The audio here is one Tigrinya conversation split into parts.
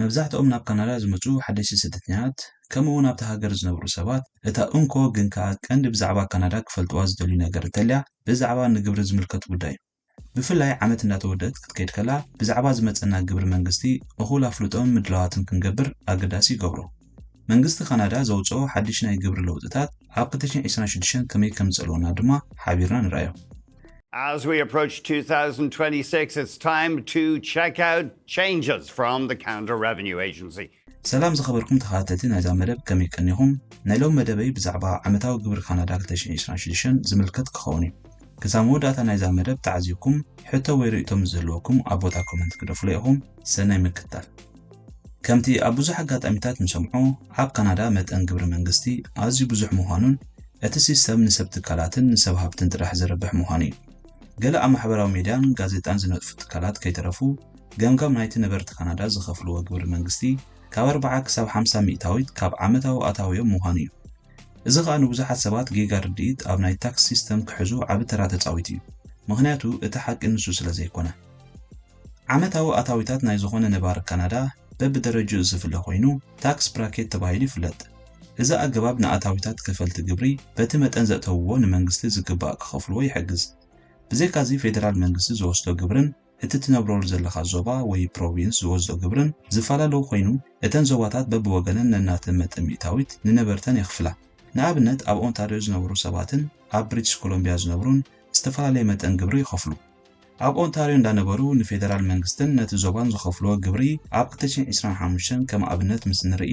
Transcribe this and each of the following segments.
መብዛሕትኦም ናብ ካናዳ ዝመጹ ሓደስቲ ስደተኛታት፣ ከምኡ'ውን ኣብታ ሃገር ዝነብሩ ሰባት፣ እታ እንኮ ግን ከኣ ቀንዲ ብዛዕባ ካናዳ ክፈልጥዋ ዝደልዩ ነገር እንተልያ፣ ብዛዕባ ንግብሪ ዝምልከት ጉዳይ እዩ። ብፍላይ ዓመት እንዳተወደእት ክትከይድ ከላ ብዛዕባ ዝመጸና ግብሪ መንግስቲ እኹል ኣፍልጦን ምድላዋትን ክንገብር ኣገዳሲ ይገብሮ። መንግስቲ ካናዳ ዘውጽኦ ሓድሽ ናይ ግብሪ ለውጥታት ኣብ ክልተ ሽሕን ዕስራን ሽዱሽተን ከመይ ከምዝጸልወና ድማ ሓቢርና ንርኣዮ። As we approach 2026, it's time to check out changes from the Canada Revenue Agency. ሰላም ዝኸበርኩም ተኸታተልቲ ናይዛ መደብ ከመይ ቀኒኹም? ናይ ሎሚ መደበይ ብዛዕባ ዓመታዊ ግብሪ ካናዳ ክልተ ሽሕን ዕስራን ሽዱሽተን ዝምልከት ክኸውን እዩ። ክሳብ መወዳእታ ናይዛ መደብ ተዓዚብኩም ሕቶ ወይ ርእይቶ ምስ ዝህልወኩም ኣብ ቦታ ኮመንት ግደፉለይ ኢኹም። ሰናይ ምክትታል። ከምቲ ኣብ ብዙሕ ኣጋጣሚታት ንሰምዖ ኣብ ካናዳ መጠን ግብሪ መንግስቲ ኣዝዩ ብዙሕ ምዃኑን እቲ ሲስተም ንሰብ ትካላትን ንሰብ ሃብትን ጥራሕ ዘርብሕ ምዃኑ እዩ። ገለ ኣብ ማሕበራዊ ሜድያን ጋዜጣን ዝነጥፉ ትካላት ከይተረፉ ገምጋም ናይቲ ነበርቲ ካናዳ ዝኸፍልዎ ግብሪ መንግስቲ ካብ ኣርብዓ ክሳብ ሓምሳ ሚእታዊት ካብ ዓመታዊ ኣታዊኦም ምዃኑ እዩ። እዚ ኸኣ ንብዙሓት ሰባት ጌጋ ርድኢት ኣብ ናይ ታክስ ሲስተም ክሕዙ ዓቢ ተራ ተጻዊቱ እዩ። ምኽንያቱ እቲ ሓቂ ንሱ ስለ ዘይኮነ። ዓመታዊ ኣታዊታት ናይ ዝኾነ ነባሪ ካናዳ በብደረጅኡ ዝፍለ ኮይኑ ታክስ ብራኬት ተባሂሉ ይፍለጥ። እዚ ኣገባብ ንኣታዊታት ከፈልቲ ግብሪ በቲ መጠን ዘእተውዎ ንመንግስቲ ዝግባእ ክኸፍልዎ ይሕግዝ። ብዘይካዚ ፌደራል መንግስቲ ዝወስዶ ግብርን። እቲ ትነብረሉ ዘለኻ ዞባ ወይ ፕሮቪንስ ዝወዝኦ ግብርን ዝፈላለ ኮይኑ፣ እተን ዞባታት በብወገነን ነናተን መጠን ሚእታዊት ንነበርተን የኽፍላ። ንኣብነት ኣብ ኦንታርዮ ዝነብሩ ሰባትን ኣብ ብሪቲሽ ኮሎምብያ ዝነብሩን ዝተፈላለየ መጠን ግብሪ ይኸፍሉ። ኣብ ኦንታርዮ እንዳነበሩ ንፌደራል መንግስትን ነቲ ዞባን ዝኸፍልዎ ግብሪ ኣብ ክልተ ሽሕን ዒስራን ሓሙሽተን ከም ኣብነት ምስ ንርኢ፣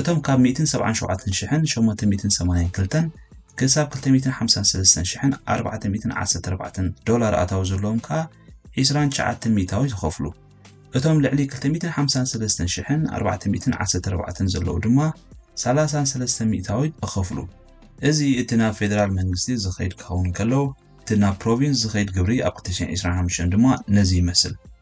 እቶም ካብ ሚእትን ሰብዓን ሸውዓተን ሽሕን ሸሞንተ ሚእትን ሰማንያን ክልተን ክሳብ ክልተ ሚእትን ሓምሳን ሰለስተን ሽሕን ኣርባዕተ ሚእትን ዓሰርተ ኣርባዕተን ዶላር ኣታዊ ዘለዎም ከኣ ዒስራን ትሽዓተን ሚእታዊ ዝኸፍሉ። እቶም ልዕሊ ክልተ ሚእትን ሓምሳን ሰለስተን ሽሕን ኣርባዕተ ሚእትን ዓሰርተ ኣርባዕተን ዘለዉ ድማ ሰላሳን ሰለስተን ሚእታዊ ይኸፍሉ። እዚ እቲ ናብ ፌደራል መንግስቲ ዝኸይድ ክኸውን እንከሎ፣ እቲ ናብ ፕሮቪንስ ዝኸይድ ግብሪ ኣብ ክልተ ሽሕን ዒስራን ሓሙሽተን ድማ ነዚ ይመስል።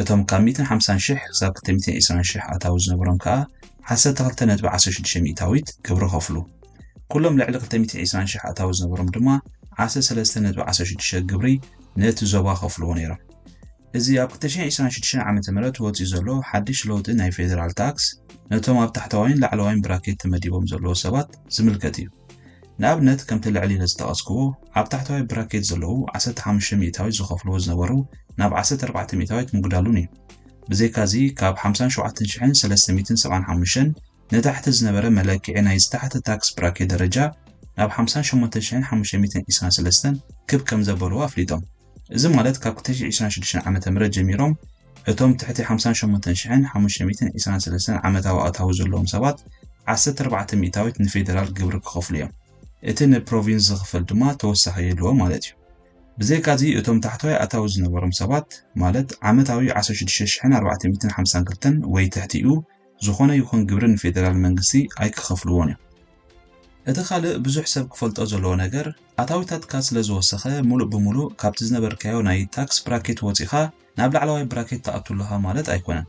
እቶም ካብ ሚእትን ሓምሳን ሽሕ ክሳብ ክልተ ሚእትን ዒስራን ሽሕ ኣታዊ ዝነበሮም ከኣ ዓሰርተ ክልተ ነጥቢ ዓሰርተ ሽዱሽተ ሚእታዊት ግብሪ ከፍሉ። ኩሎም ልዕሊ ክልተ ሚእትን ዒስራን ሽሕ ኣታዊ ዝነበሮም ድማ ዓሰርተ ሰለስተ ነጥቢ ዓሰርተ ሽዱሽተ ግብሪ ነቲ ዞባ ከፍልዎ ነይሮም። እዚ ኣብ ክልተ ሽሕን ዒስራን ሽዱሽተን ዓመተ ምህረት ወጺኡ ዘሎ ሓድሽ ለውጢ ናይ ፌደራል ታክስ ነቶም ኣብ ታሕተዋይን ላዕለዋይን ብራኬት ተመዲቦም ዘለዉ ሰባት ዝምልከት እዩ። ንኣብነት ከምቲ ልዕል ኢለ ዝጠቐስክዎ ኣብ ታሕተዋይ ብራኬት ዘለዉ ዓሰርተ ሓሙሽተ ሚእታዊት ዝኸፍልዎ ዝነበሩ ናብ ዓሰርተ ኣርባዕተ ሚእታዊት ምጉዳሉን እዩ። ብዘይካዚ ካብ ሓምሳን ሸውዓተን ሽሕን ሰለስተ ሚእትን ሰብዓን ሓሙሽተን ንታሕቲ ዝነበረ መለክዒ ናይ ዝተሓተ ታክስ ብራኬት ደረጃ ናብ ሓምሳን ሸሞንተን ሽሕን ሓሙሽተ ሚእትን ዒስራን ሰለስተን ክብ ከምዘበልዎ ኣፍሊጦም። እዚ ማለት ካብ ክተሽሕ ዒስራን ሽዱሽተን ዓመተ ምህረት ጀሚሮም እቶም ትሕቲ ሓምሳን ሸሞንተን ሽሕን ሓሙሽተ ሚእትን ዒስራን ሰለስተን ዓመታዊ ኣታዊ ዘለዎም ሰባት ዓሰርተ ኣርባዕተ ሚእታዊት ንፌደራል ግብሪ ክኸፍሉ እዮም። እቲ ንፕሮቪንስ ዝኽፈል ድማ ተወሳኺ የድልዎ ማለት እዩ። ብዘይካዚ እቶም ታሕተዋይ ኣታዊ ዝነበሮም ሰባት ማለት ዓመታዊ ዓሰርተ ሽዱሽተ ሽሕን ኣርባዕተ ሚእትን ሓምሳን ክልተን ወይ ትሕቲኡ ዝኾነ ይኹን ግብሪ ንፌደራል መንግስቲ ኣይክኸፍልዎን እዮም። እቲ ካልእ ብዙሕ ሰብ ክፈልጦ ዘለዎ ነገር፣ ኣታዊታትካ ስለ ዝወሰኸ ምሉእ ብምሉእ ካብቲ ዝነበርካዮ ናይ ታክስ ብራኬት ወጺኻ ናብ ላዕለዋይ ብራኬት ትኣቱ ኣለኻ ማለት ኣይኮነን።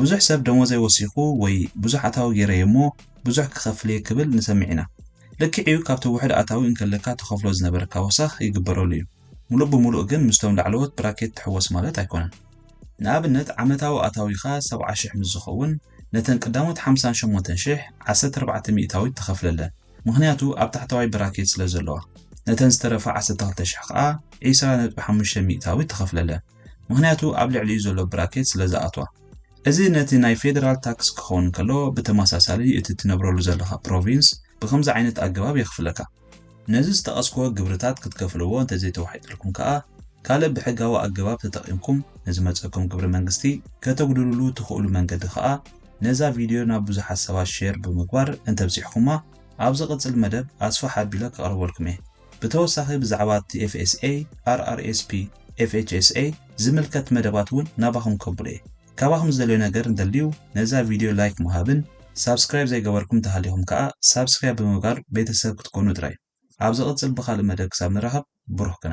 ብዙሕ ሰብ ደሞዘይ ወሲኹ ወይ ብዙሕ ኣታዊ ገይረ እየ እሞ ብዙሕ ክኸፍል እየ ክብል ንሰምዕ ኢና። ልክዕ እዩ ካብቲ ውሑድ ኣታዊ እንከለካ ትኸፍሎ ዝነበርካ ወሰኽ ይግበረሉ እዩ። ምሉእ ብምሉእ ግን ምስቶም ላዕለዎት ብራኬት ትሕወስ ማለት ኣይኮነን። ንኣብነት ዓመታዊ ኣታዊኻ ሰብዓ ሽሕ ምስ ዝኸውን ነተን ቅዳሞት ሓምሳን ሸሞንተን ሽሕ ዓሰርተ ኣርባዕተ ሚእታዊት ትኸፍለለን ምኽንያቱ ኣብ ታሕተዋይ ብራኬት ስለ ዘለዋ ነተን ዝተረፋ ዓሰርተ ክልተ ሽሕ ከኣ ዒስራ ነጥቢ ሓሙሽተ ሚእታዊት ትኸፍለለን ምኽንያቱ ኣብ ልዕሊኡ ዘሎ ብራኬት ስለ ዝኣትዋ እዚ ነቲ ናይ ፌደራል ታክስ ክኸውን ከሎ ብተመሳሳሊ እቲ ትነብረሉ ዘለኻ ፕሮቪንስ ብኸምዚ ዓይነት ኣገባብ የኽፍለካ። ነዚ ዝጠቐስክዎ ግብርታት ክትከፍልዎ እንተዘይተዋሒጥልኩም ከኣ ካልእ ብሕጋዊ ኣገባብ ተጠቒምኩም ንዝመጸኩም ግብሪ መንግስቲ ከተጉድልሉ ትኽእሉ መንገዲ ከኣ ነዛ ቪድዮ ናብ ብዙሓት ሰባት ሼር ብምግባር እንተብጺሕኩማ ኣብ ዝቕጽል መደብ ኣስፍሕ ኣቢለ ከቕርበልኩም እየ። ብተወሳኺ ብዛዕባ እቲ FSA፣ RRSP፣ FHSA ዝምልከት መደባት እውን ናባኹም ከብሎ እየ። ካባኹም ዝደልዮ ነገር እንተልዩ ነዛ ቪድዮ ላይክ ምሃብን ሳብስክራይብ ዘይገበርኩም እንተሃሊኹም ከኣ ሳብስክራይብ ብምግባር ቤተሰብ ክትኮኑ ጥራይ ኣብ ዝቕጽል ብኻልእ መደብ ክሳብ ንራኸብ ብሩኽ ቅነ።